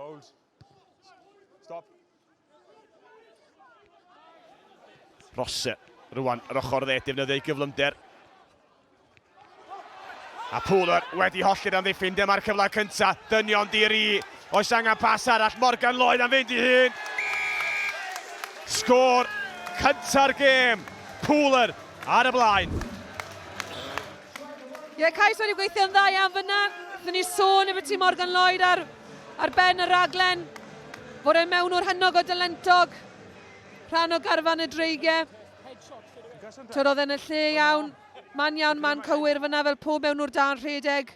Hold. Stop. Rosse. Rwan, yr ochr dde, defnyddio ei gyflymder. A Pooler wedi hollti'r amddiffyn, dyma'r cyfle cynta, dynion diri. Oes angen pas arall, Morgan Lloyd am fynd i hun. Sgôr cynta'r gêm, Pooler ar y blaen. Ie, yeah, Cais wedi gweithio'n dda iawn fyna. Rydyn ni sôn efo ti Morgan Lloyd ar, ar ben y raglen. Fod e'n mewn o'r hynnog o dylentog. Rhan o garfan y dreigiau. Tyd oedd e'n y lle iawn. Man iawn, man cywir fyna fel pob mewn o'r dan rhedeg.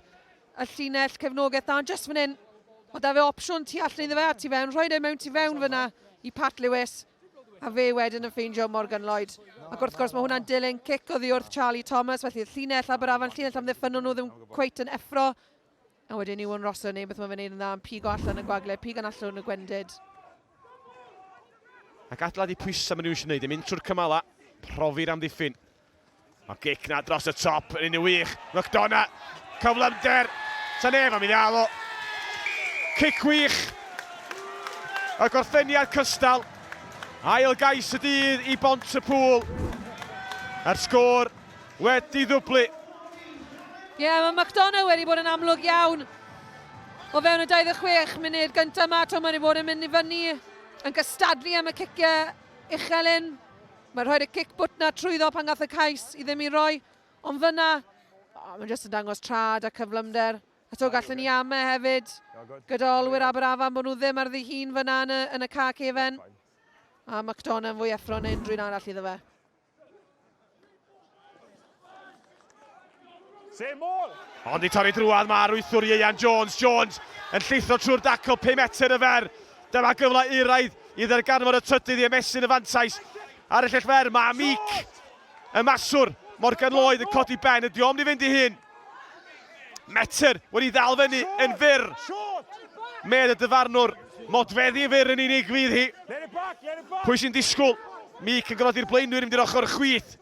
Y llinell cefnogaeth dan, just fan hyn. Mae da fe opsiwn tu allan iddo fe a tu fewn. Rhoi e mewn tu fewn fyna i Pat Lewis. A fe wedyn yn ffeindio Morgan Lloyd. Ac wrth gwrs, mae hwnna'n dilyn cic oddi wrth Charlie Thomas, felly y llinell Aberafan, llinell amddiffynol nhw ddim cweit yn effro. A wedyn Iwan Rossiter yn neud beth mae'n fe wneud yn dda, yn pigo allan y gwagle, pig yn allwn y gwendid. Ac adeiladu pwysau maen nhw eisiau wneud, yn mynd trwy'r cymalau, profi'r amddiffyn. Mae gic na dros y top yn un i wych. McDonagh, cyflymder, ta nef am i ddial o. Cic wych. Y gorffeniad cystal. Ail gais y dydd i bont y pŵl. Yr sgôr wedi ddwblu. Ie, yeah, mae McDonagh wedi bod yn amlwg iawn o fewn y 26 munud gyntaf yma. Mae wedi bod yn mynd i fyny, yn gystadlu am y ciciau uchel hyn. Mae rhoi'r cic bwt 'na trwyddo pan gath y cais i ddim i roi, ond fyna, oh, mae'n jyst yn dangos trad a cyflymder. A to gallen ni ame hefyd, gyda olwyr Aberafan bod nhw ddim ar ddihun fyna yn y, yn y car cefen. A McDonough yn fwy effro yn unrhyw'n arall iddo fe. Seymour! Ond i torri drwad mae arwythwr Ieuan Jones. Jones yn llithro trwy'r daco 5 metr y fer. Dyma gyfle euraidd i ddarganfod y trydydd i ymestyn y fantais ar y llell fer. Mae Meek, y maswr, Morgan Lloyd yn codi ben. Ydy o'm di fynd i hun? Metr wedi ddal fyny yn fyr. Med y dyfarnwr. Modfeddi yn fyr yn unig fydd hi. Pwy sy'n disgwyl? Mic yn gofodi'r blaenwyr yn mynd i'r ochr chwith.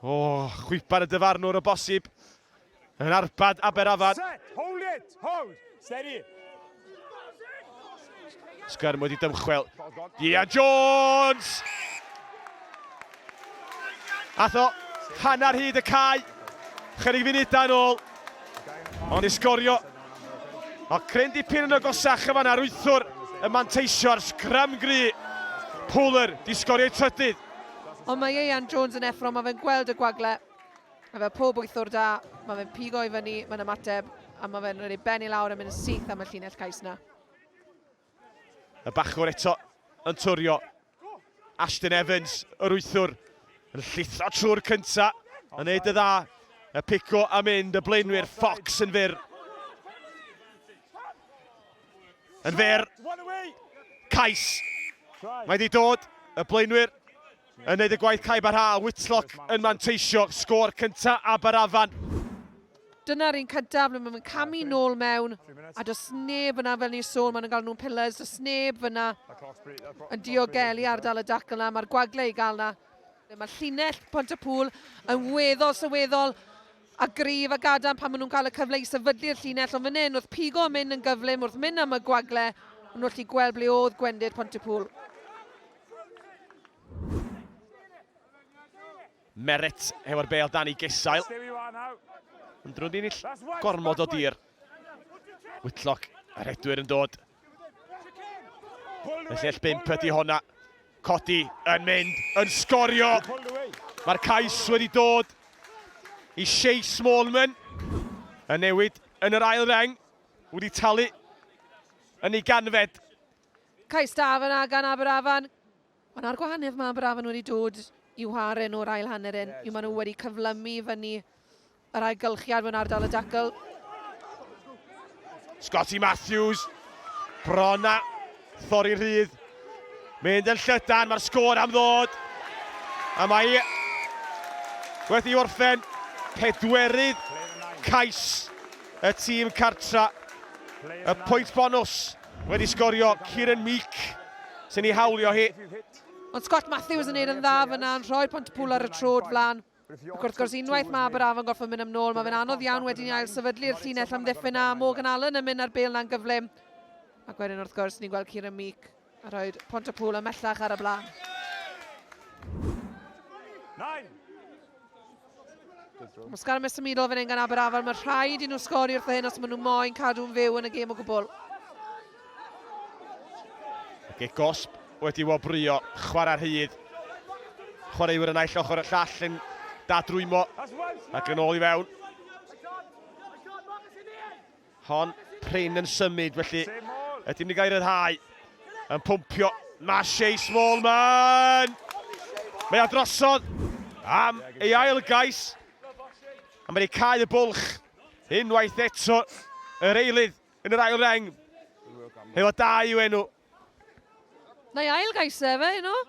O, oh, chwipan y dyfarnwr o bosib. Yn arbad Aberafan. Set, hold it, hold, steady. Sgyrm wedi dymchwel. Ia Jones! Atho, hanner hyd y cae. Chyrig funudau yn ôl. Ond i sgorio. O, cryn dipyn yn y gosach y fan ar wythwr y manteisio ar sgrym gry. Pwler, di sgorio'i trydydd. Ond mae Ieuan Jones yn effro, mae fe'n gweld y gwagle. A fel pob wythwr da, mae fe'n pigo i fyny, mae'n ymateb, a mae fe'n rhoi ben i lawr a mynd yn syth am y llinell cais na. Y bachwr eto yn twrio. Ashton Evans, yr wythwr, yn llithro trwy'r cynta, yn neud y dda. Y pico a mynd, y blaenwyr Fox yn fyr. Yn fyr. Cais. Mae wedi dod, y blaenwyr. Yn wneud y gwaith caib a rha a Whitlock yn manteisio sgôr cyntaf Aberafan. Dyna'r un cyntaf ble mae'n camu nôl mewn a does neb yna fel ni'n sôn maen nhw'n gael nhw'n pillars, does neb yna yn diogelu ardal y dacl yna, mae'r gwagle i gael yna. Mae llinell Pont y Pŵl yn weddol sylweddol a gryf a gadarn pan maen nhw'n cael y cyfle i sefydlu'r llinell ond fan hyn wrth pigo yn mynd yn gyflym wrth mynd am y gwagle o'n nhw'n gallu gweld ble oedd gwendid Pont y Pŵl. Merritt hefo'r bel dan i gesail. Yn drw'n dinill gormod o dir. Whitlock, a redwyr yn dod. Y llell bimp ydy honna. Codi yn mynd, yn sgorio. Mae'r cais wedi dod i Shea Smallman. Y newid yn yr ail reng wedi talu yn ei ganfed. Cais da fan'na gan Aberafan. Ond 'na'r gwahaniaeth, mae Aberafan wedi dod i'w haren o'r ail hanner hyn, yw maen nhw wedi cyflymu fyny yr ailgylchiad mewn ardal y dacl. Scotty Matthews, bron a thorri rhydd. Mynd yn llydan, mae'r sgôr am ddod. A mae i wedi i orffen pedwerydd cais y tîm cartra. Y pwynt bonws. Wedi sgorio Kieran Meek sy'n ei hawlio hi. Ond Scott Matthews yn neud yn dda fyna yn rhoi Pontypool ar y trod flan. Ac wrth gwrs unwaith mae Aberafon gorfod mynd am nôl mae fe'n anodd iawn wedyn i ail sefydlu'r llinell amddiffyn a Morgan Allen yn mynd ar bêl na'n gyflym. Ac wedyn wrth gwrs ni'n gweld Kieran Meek a rhoi Pontypool ymellach ar y blaen. Nine. Muscar yn symudol fan hyn gan Aberafan. Mae rhaid i nhw sgori wrth hyn os maen nhw moyn cadw'n fyw yn y gêm o gwbl. Ge gosb wedi wobrio, chwarae rhydd. Chwaraewyr yn aill ochr y llall yn dadrwymo ac yn ôl i fewn. Hon prin yn symud felly ydym ni gael rhyddhau yn pwmpio Mache Smallman! Mae a drosodd am ei ail gais a mae wedi cael y bwlch unwaith eto yr eilydd yn yr ail reng efo dau i'w enw. Neu ail gais efe, you know?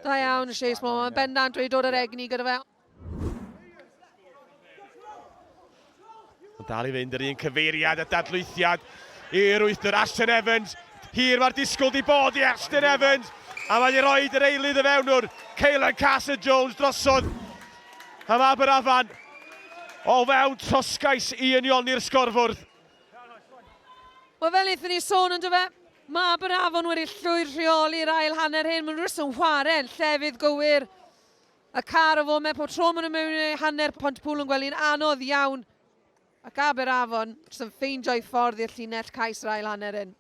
Da iawn Shea Smallman, bendant wedi dod yr egni gyda fe. Ond dal i fynd yr un cyfeiriad a dadlwythiad i'r wythdr Ashton Evans. Hir mae'r disgwyl di bod i Ashton Evans. A mae'n rhoi yr eilydd y fewn o'r Ceylan Carson Jones drosodd. A mae Aberafan o fewn trosgais i unioni'r sgorfwrdd. Wel fel eithon ni sôn yn dyfa, mae Aberafon wedi llwyr rheoli'r ail hanner hyn. Mae'n rhywbeth yn chwarae'n llefydd gywir. Y car o foment pob tro maen nhw mewn i hanner Pontypŵl yn gwely'n anodd iawn ac Aberafon jyst yn ffeindio'i ffordd i'r llinell cais yr ail hanner hyn.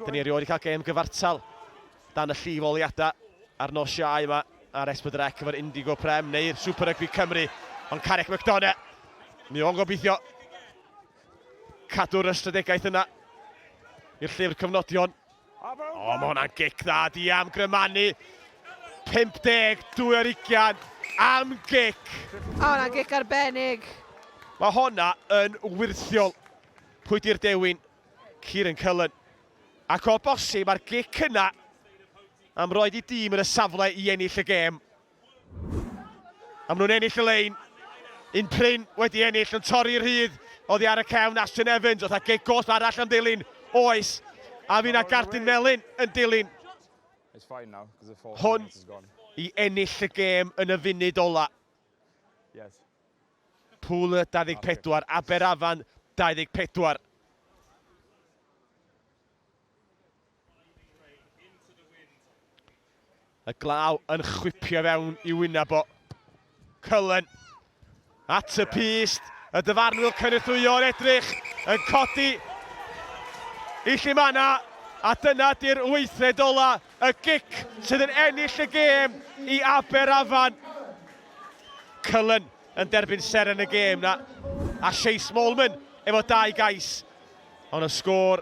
Dyn ni erioed wedi cael gêm gyfartal dan y llif oliadau ar nos Siau yma ar Esbydrec efo'r Indigo Prem neu'r Super Rugby Cymru. Ond Carrick McDonough, mi o'n gobeithio cadw'r ystradegaeth yna i'r llyfr cyfnodion. O, mae hwnna'n gic dda, di am grymannu. 52 ar ugian am gic. O, hwnna'n gic arbennig. Mae hwnna yn wirthiol. Pwy di'r dewin? Kieran Cullen. Ac o bosib, mae'r gic yna am roed i dîm yn y safle i ennill y gêm. A maen nhw'n ennill y lein. Un prin wedi ennill yn torri rhydd oddi ar y cefn Ashton Evans oedd a gig goll arall am ddilyn. Oes. A fi na gardyn felyn yn dilyn. Hwn i ennill y gêm yn y funud ola. Yes. Pŵl 24, Aberafan 24. Y glaw yn chwipio fewn i wyneb o. Cullen at y pyst. Y dyfarnwr cynythwyo'n edrych yn codi i Llimanna. A dyna di'r weithred ola, y gic sydd yn ennill y gêm i Aber Afan. Cullen yn derbyn ser yn y gêm na. A Chase Molman efo dau gais. Ond y sgôr